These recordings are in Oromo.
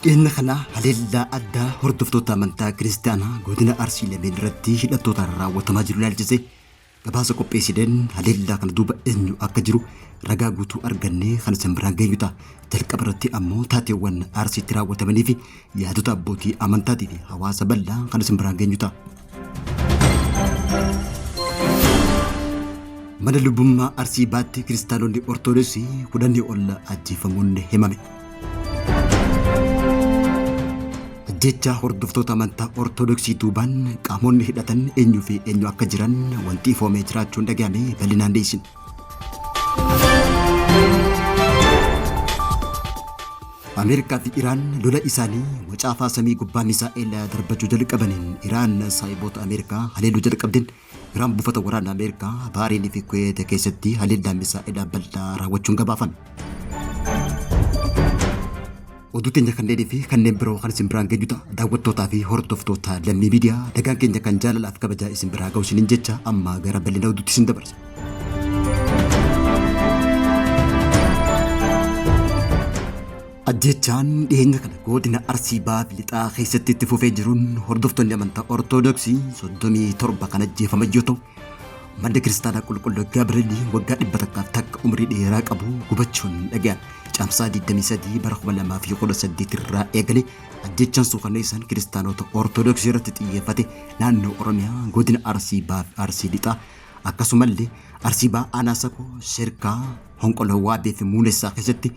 Dhimma kana haleellaa addaa hordoftoota amantaa kiristaanaa godina Arsii lameen irratti hidhattootaan raawwatamaa jiru ilaalchise Gabaasa qopheessineen haleellaa kana duuba eenyu akka jiru ragaa guutuu argannee kan isin biraan geenyu ta'a. Jalqaba irratti ammoo taateewwan Arsiitti raawwatamanii fi yaadota abbootii amantaatii fi hawaasa bal'aa kan isin biraan geenyu ta'a. Mana lubummaa Arsii baatti kiristaanonni Ortodoksii kudhanii ol ajjeefamuun himame. Jecha hordoftoota amantaa Ortodoksii duubaan qaamonni hidhatan eenyuu fi eenyu akka jiran wanti ifoomee jiraachuun dhaga'ame bal'inaan dhiyeessin. Ameerikaa fi Iraan lola isaanii wacaafaa samii gubbaa misaa'eela darbachuu jalqabaniin Iraan saayiboota Ameerikaa haleeluu jalqabdeen Iraan buufata waraanaa Ameerikaa Baariinii fi Kuweet keessatti haleellaa misaa'elaa bal'aa raawwachuun gabaafame. Oduu teenya kanneenii fi kanneen biroo kan isin biraan geenyu ta'a. Daawwattootaa fi hordoftoota lammii miidiyaa nagaan keenya kan jaalalaaf kabajaa isin biraa ga'u isiniin jecha amma gara bal'ina oduutti isin dabarsa. Ajjeechaan dhiyeenya kana godina Arsii Bahaa Lixaa keessatti itti fufee jiruun hordoftoonni amantaa Ortoodooksii 37 kan ajjeefaman yoo ta'u, manni kiristaanaa qulqulluu Gabrielii waggaa 100 takka umrii dheeraa qabu gubachuun dhaga'ame. Caamsaa 23 bara 2018 irraa eegalee ajjeechaan suukanneessaan kiristaanota Ortoodooksii irratti xiyyeeffate naannoo Oromiyaa godina Arsii Bahaa fi Arsii Lixaa akkasumallee Arsii Bahaa Aanaa Sakoo Sirkaa Honqoloo Waadee fi Muunessaa keessatti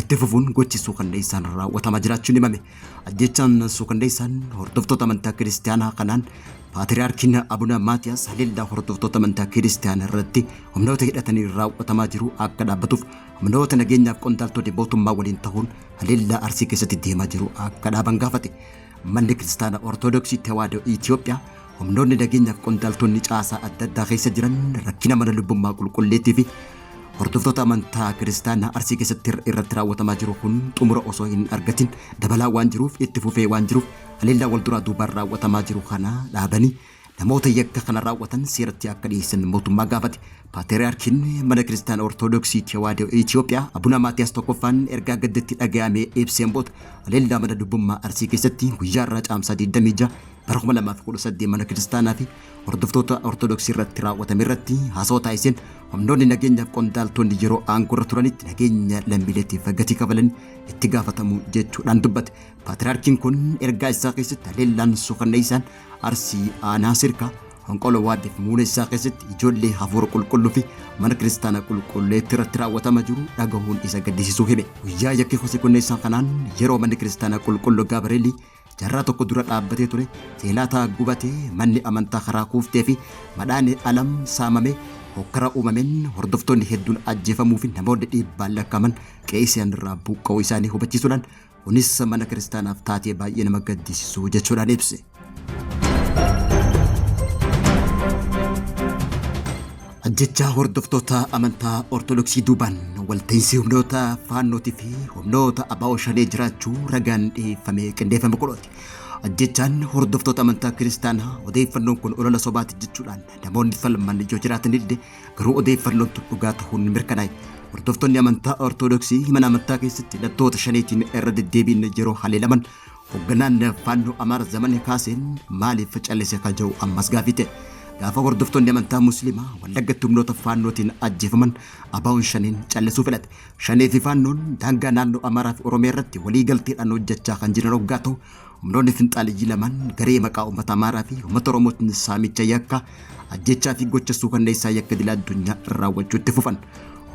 itti fufuun gochi suukanneessaan raawwatamaa jiraachuun himame. Ajjechaan suukanneessaan hordoftoota amantaa kiristaanaa kanaan Paatiriyaarkiin Abuna Maatiyaas haleellaa hordoftoota amantaa kiristaanaa irratti humnoota hidhatanii raawwatamaa jiru akka dhaabbatuuf humnoota nageenyaaf qondaaltonni mootummaa waliin ta'uun haleellaa Arsii keessatti deemaa jiru akka dhaaban gaafate. Manni Kiristaana Ortodoksii Tewaadoo Itoophiyaa Humnoonni nageenya fi qondaaltonni caasaa adda addaa keessa jiran rakkina mana lubbummaa qulqulleettii fi hordoftoota amantaa kiristaanaa arsii keessatti irratti raawwatamaa jiru kun xumura osoo hin argatin dabalaa waan jiruuf itti fufee waan jiruuf haleellaa wal duraa duubaan raawwatamaa jiru kana dhaabanii namoota yakka kana raawwatan seeratti akka dhiyeessan mootummaa gaafate. Paatriyaarkiin mana kiristaana Ortoodooksii Tewaadoo Itoophiyaa Abuna Maatiyaas tokkoffaan ergaa gaddatti dhaga'amee ibseen booda haleellaa mana lubbummaa arsii keessatti guyyaa irraa caamsaa 26 bara 2018 mana kiristaanaa fi hordoftoota Ortodoksii irratti raawwatame irratti haasawa taasiseen humnoonni nageenyaaf qondaaltonni yeroo aangoo irra turanitti nageenya lammiileetiif gatii kafalan itti gaafatamu jechuudhaan dubbate. Paatiraarkiin kun ergaa isaa keessatti haleellaan suukanneessaan Arsii Aanaa Sirkaa Honqolo Waaddeef muunessaa keessatti ijoollee hafuura qulqulluu fi mana kiristaanaa qulqulleetti irratti raawwatama jiru dhagahuun isa gaddisiisuu hime. Guyyaa yakki kosii kunneessaa kanaan yeroo manni kiristaanaa qulqulluu Gaabareelii Jarraa tokko dura dhaabbatee ture teelaataa gubatee manni amantaa karaa kuuftee fi madhaane alam saamamee hokkara uumameen hordoftoonni hedduun ajjeefamuu fi namoonni dhiibbaan lakkaaman qe'isaan irraa buqqa'uu isaanii hubachiisuudhaan kunis mana kiristaanaaf taatee baay'ee nama gaddisiisuu jechuudhaan ibse. Ajjechaa hordoftoota amantaa Ortodoksii duubaan walta'iinsi humnoota faannootii fi humnoota abaa'oo shanee jiraachuu ragaan dhiyeeffamee qindeeffame kunooti. Ajjechaan hordoftoota amantaa kiristaanaa odeeffannoon kun olola sobaati jechuudhaan namoonni falman yoo jiraatanillee garuu odeeffannoon tun dhugaa ta'uun mirkanaa'e. Hordoftoonni amantaa Ortodoksii mana amantaa keessatti hidhattoota shaneetiin irra deddeebiin yeroo haleelaman Hogganaan Faannoo Amaara Zamanee Kaaseen maaliif callise kan jedhu ammas gaaffii ta'e. Gaafa hordoftoonni amantaa Musliimaa Wallaggatti humnoota Faannootiin ajjeefaman ABOn Shaneen callisuu filate. Shanee fi Faannoon daangaa naannoo Amaaraa fi Oromiyaa irratti walii galteedhaan hojjechaa kan jiran oggaa ta'u, humnoonni finxaaliyyii lamaan garee maqaa uummata Amaaraa fi uummata Oromootiin saamicha yakkaa ajjechaa fi gocha suukanneessaa yakka idil addunyaa raawwachuu itti fufan.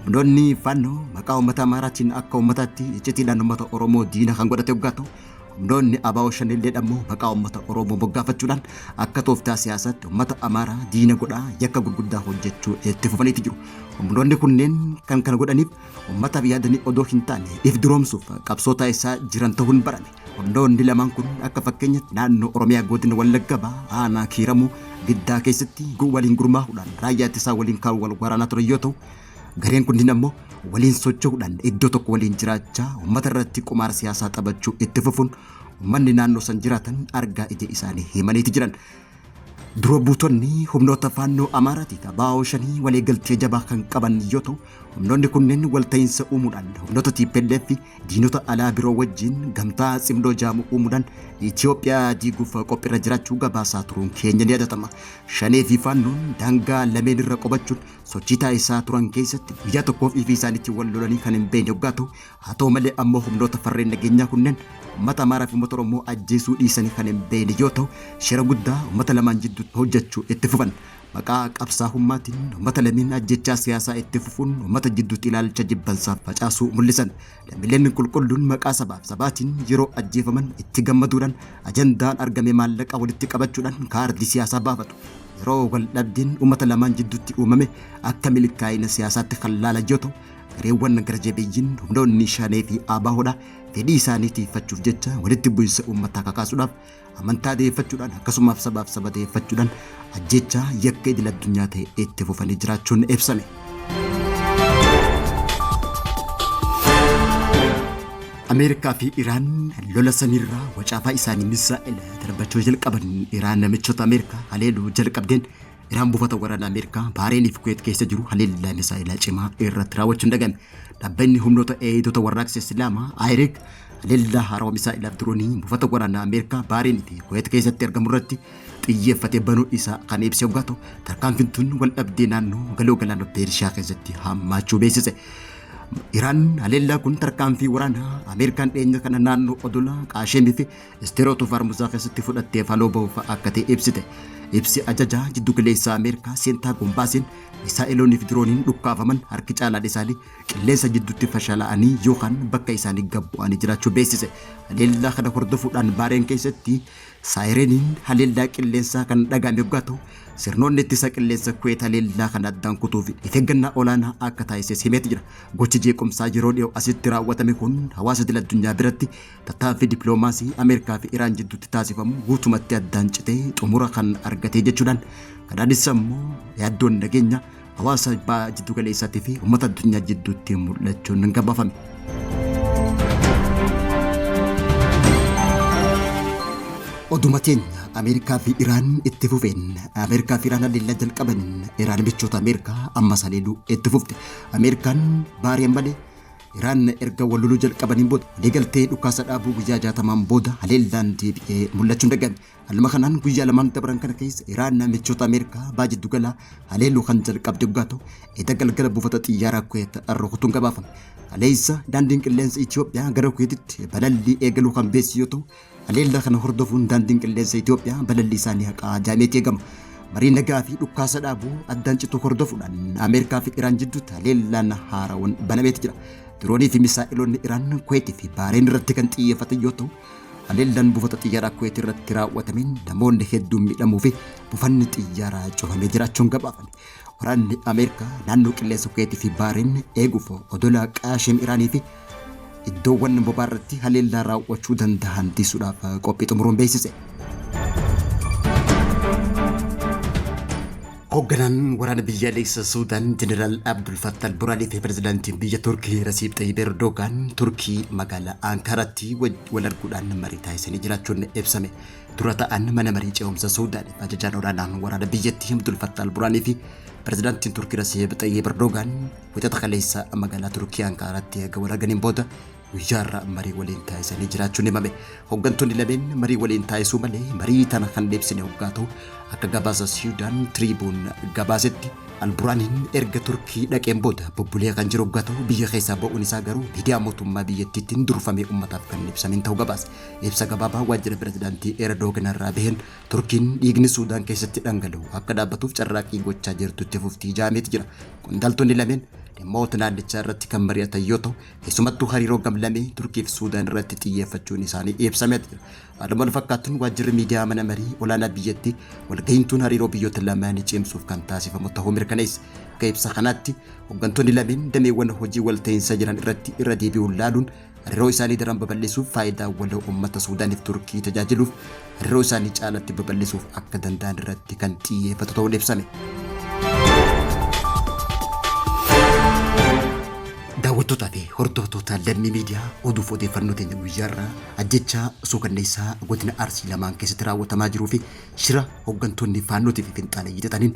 Humnoonni fannoo maqaa uummata Amaaraatiin akka uummataatti iccitiidhaan uummata Oromoo diina kan godhate hoggaa ta'u, humnoonni abaa'oo shanilleedha immoo maqaa uummata Oromoo moggaafachuudhaan akka tooftaa siyaasaatti uummata Amaaraa diina godhaa yakka gurguddaa hojjechuu itti fufaniiti jiru. Humnoonni kunneen kan kana godhaniif uummataaf yaadanii odoo hin taane if duroomsuuf qabsoo taasisaa jiran ta'uun barame. Hundoonni lamaan kun akka fakkeenyatti naannoo Oromiyaa godina Wallagga Bahaa aanaa Kiiramuu Giddaa keessatti gu- waliin gurmaa'uudhaan raayyaa ittisaa waliin kan wal waraanaa turan yoo ta'u, gareen kunniin ammoo waliin socho'uudhaan iddoo tokko waliin jiraachaa uummata irratti qumaara siyaasaa taphachuu itti fufuun uummanni naannoo san jiraatan argaa ija isaanii himaniiti jiran. Dura buutonni humnoota faannoo Amaaraatii fi Abaa'oo shanii waliigaltee jabaa kan qaban yoo ta'u, humnoonni kunneen walta'iinsa uumuudhaan humnoota TPLF fi diinota alaa biroo wajjin gamtaa Tsimdoo jaamu uumuudhaan Itoophiyaa diiguuf qophiirra jiraachuu gabaasaa turuun keenya ni yaadatama. Shanee fi faannoon daangaa lameen irra qubachuun sochii taasisaa turan keessatti guyyaa tokkoof ifii isaaniitti wal lolanii kan hin beekne yoggaa ta'u, Haa ta'u malee ammoo humnoota farreen nageenyaa kunneen ummata Amaaraa fi ummata Oromoo ajjeesuu dhiisanii kan hin beeyne yoo ta'u shira guddaa ummata lamaan jidduutti hojjachuu itti fufan. Maqaa qabsaahummaatiin ummata lameen ajjechaa siyaasaa itti fufuun ummata jidduutti ilaalcha jibbansaa facaasuu mul'isan. Lammileen qulqulluun maqaa sabaaf sabaatiin yeroo ajjeefaman itti gammaduudhaan ajandaan argame maallaqa walitti qabachuudhaan kaardii siyaasaa baafatu. Yeroo wal dhabdeen ummata lamaan jidduutti uumame akka milkaa'ina siyaasaatti kan laalan yoo ta'u gareewwan gara jabeeyyiin humnoonni shaanee fi aabaahudha fedhii isaanii tiifachuuf jecha walitti bu'insa uummataa kakaasuudhaaf amantaa deeffachuudhaan akkasumaaf sabaaf saba deeffachuudhaan ajjechaa yakka idil addunyaa ta'e itti fufanii jiraachuun ibsame. Ameerikaa fi Iraan lola samiirraa wacaafaa isaanii misaa'ela darbachuu jalqaban Iraan namichoota Ameerikaa haleeluu jalqabdeen Iraan buufata waraanaa Ameerikaa Baareenii fi Kuweet keessa jiru haleellaa misaa'elaa cimaa irratti raawwachuun dagame. Dhaabbanni humnoota eegdota warraaqsa Islaamaa IRIC haleellaa haarawa misaa'elaaf diroonii buufata waraanaa Ameerikaa Baareenii fi Kuweet keessatti argamu irratti xiyyeeffate banuu isaa kan ibse yoo ta'u, tarkaanfiin tun wal dhabdee naannoo galoo galaana Peershiyaa keessatti hammaachuu beeksise. Iraan haleellaa kun tarkaanfii waraanaa Ameerikaan dhiyeenya kana naannoo odola Qaasheemii fi Isteer otoo Faarmusaa keessatti fudhatteef haloo bahuuf akka ta'e ibsite. Ibsi ajajaa jiddu galeessaa Ameerikaa Seentaagom baaseen misaa'eloonni fi dirooniin dhukkaafaman harki caalaan isaanii qilleensa jidduutti fashalaa'anii yookaan bakka isaanii gad bu'anii jiraachuu beeksise. Haleellaa kana hordofuudhaan Baareen keessatti saayireniin haleellaa qilleensaa kan dhaga'ame yoggaa ta'u sirnoonni ittisa qilleensa Kuweet haleellaa kana addaan kutuu fi of eeggannaa olaanaa akka taasises himeeti jira. Gochi jeequmsaa yeroo dhiyoo asitti raawwatame kun hawaasa idil addunyaa biratti tattaaffii dippiloomaasii Ameerikaa fi Iraan jidduutti taasifamu guutumatti addaan citee xumura kan argatee jechuudhaan Qadaadis ammoo yaaddoon nageenya hawaasa baha jiddu galeessaatii fi uummata addunyaa jidduutti mul'achuun hin gabaafame. Oduma keenya Ameerikaa fi Iraan itti fufeen Ameerikaa fi Iraan haleellaa jalqabaniin Iraan michoota Ameerikaa ammas haleeluu itti fufte. Ameerikaan baari'an malee Iraan erga wal loluu jalqabaniin booda waliigaltee dhukaasa dhaabuu guyyaa 60n booda haleellaan deebi'ee mul'achuun dagame. Haaluma kanaan guyyaa lamaan dabran kana keessa Iraan michoota Ameerikaa baha jiddu galaa haleeluu kan jalqabde dhugaa ta'u eda galgala buufata xiyyaaraa Kuweet rukutuun gabaafame. Kaleessa daandiin qilleensa Itiyoophiyaa gara Kuweetitti balallii eegaluu kan beeksise yoo ta'u Haleellaa kana hordofuun Daandiin Qilleensa Itoophiyaa balallii isaa ni haqa jaameeti eegama. Marii nagaa fi dhukkaasa dhaabuu addaan cituu hordofuudhaan Ameerikaa fi Iraan jidduutti haleellaan haarawan banameeti jira. Diroonii fi misaa'iloonni Iraan Kuweetii fi Baareen irratti kan xiyyeeffatan yoo ta'u, haleellaan buufata xiyyaaraa Kuweetii irratti raawwatameen namoonni hedduun miidhamuu fi buufanni xiyyaaraa cufamee jiraachuun gabaafame. Waraanni Ameerikaa naannoo qilleensa Kuweetii fi Baariin eeguuf odola Qaashiim Iraanii fi iddoowwan bobaa irratti haleellaa raawwachuu danda'an tiisuudhaaf qophii xumuruun beeksise. Hoogganaan waraana biyyaalessa Suudaan Jeneraal Abdul Fattal Buraanii fi pirezidaantiin biyya Turkii Rasiib Xayyib Erdogaan Turkii magaalaa Ankaaratti wal arguudhaan marii taasisanii jiraachuun ibsame. Dura ta'an mana marii ce'umsa Suudaaniif ajajaan olaanaan waraana biyyattii Abdul Fattah al-Buraanii fi pirezidaantiin Turkii Rasiib Xayyib Erdoogaan wixata kaleessa magaalaa Turkii Ankaaraatti erga wal arganiin booda guyyaarra marii waliin taasisanii jiraachuun himame. Hooggantoonni lameen marii waliin taasisuu malee marii tana kan deebisne hoggaa ta'u akka gabaasa Siidaan Tiriibuun gabaasetti Alburaaniin erga Turkii dhaqeen booda bubbulee kan jiru hoggaa ta'u biyya keessaa ba'uun isaa garuu miidiyaa mootummaa biyyattiittiin durfamee ummataaf kan ibsamiin ta'u gabaase. Ibsa gabaabaa waajjira pirezidaantii Erdogan irraa baheen Turkiin dhiigni Suudaan keessatti dhangala'u akka dhaabbatuuf carraaqqii gochaa jirtu itti fufti jedhameeti jira. Qondaaltonni lameen dhimmoota naannichaa irratti kan mari'atan yoo ta'u, keessumattuu hariiroo gamlamee Turkii fi Suudaan irratti xiyyeeffachuun isaanii ibsameeti jira. Haaluma wal fakkaatuun waajjirri miidiyaa mana marii olaanaa biyyattii walgahiin tun hariiroo biyyoota lamaanii cimsuuf kan taasifamu ta'uu mirkaneessa. Akka ibsa kanaatti hooggantoonni lameen dameewwan hojii walta'iinsa jiran irratti irra deebi'uun laaluun Hariiroo isaanii daran babal'isuuf faayidaa waloo uummata Suudaaniif Turkii tajaajiluuf hariiroo isaanii caalatti babal'isuuf akka danda'an irratti kan xiyyeeffatu ta'uun ibsame. Daawwattootaa fi hordoftoota lammii miidiyaa oduuf odeeffannoo teenya guyyaarraa ajjechaa suukanneessaa godina Arsii lamaan keessatti raawwatamaa jiruu fi shira hooggantoonni faannootii fi finxaaleyyii xaxaniin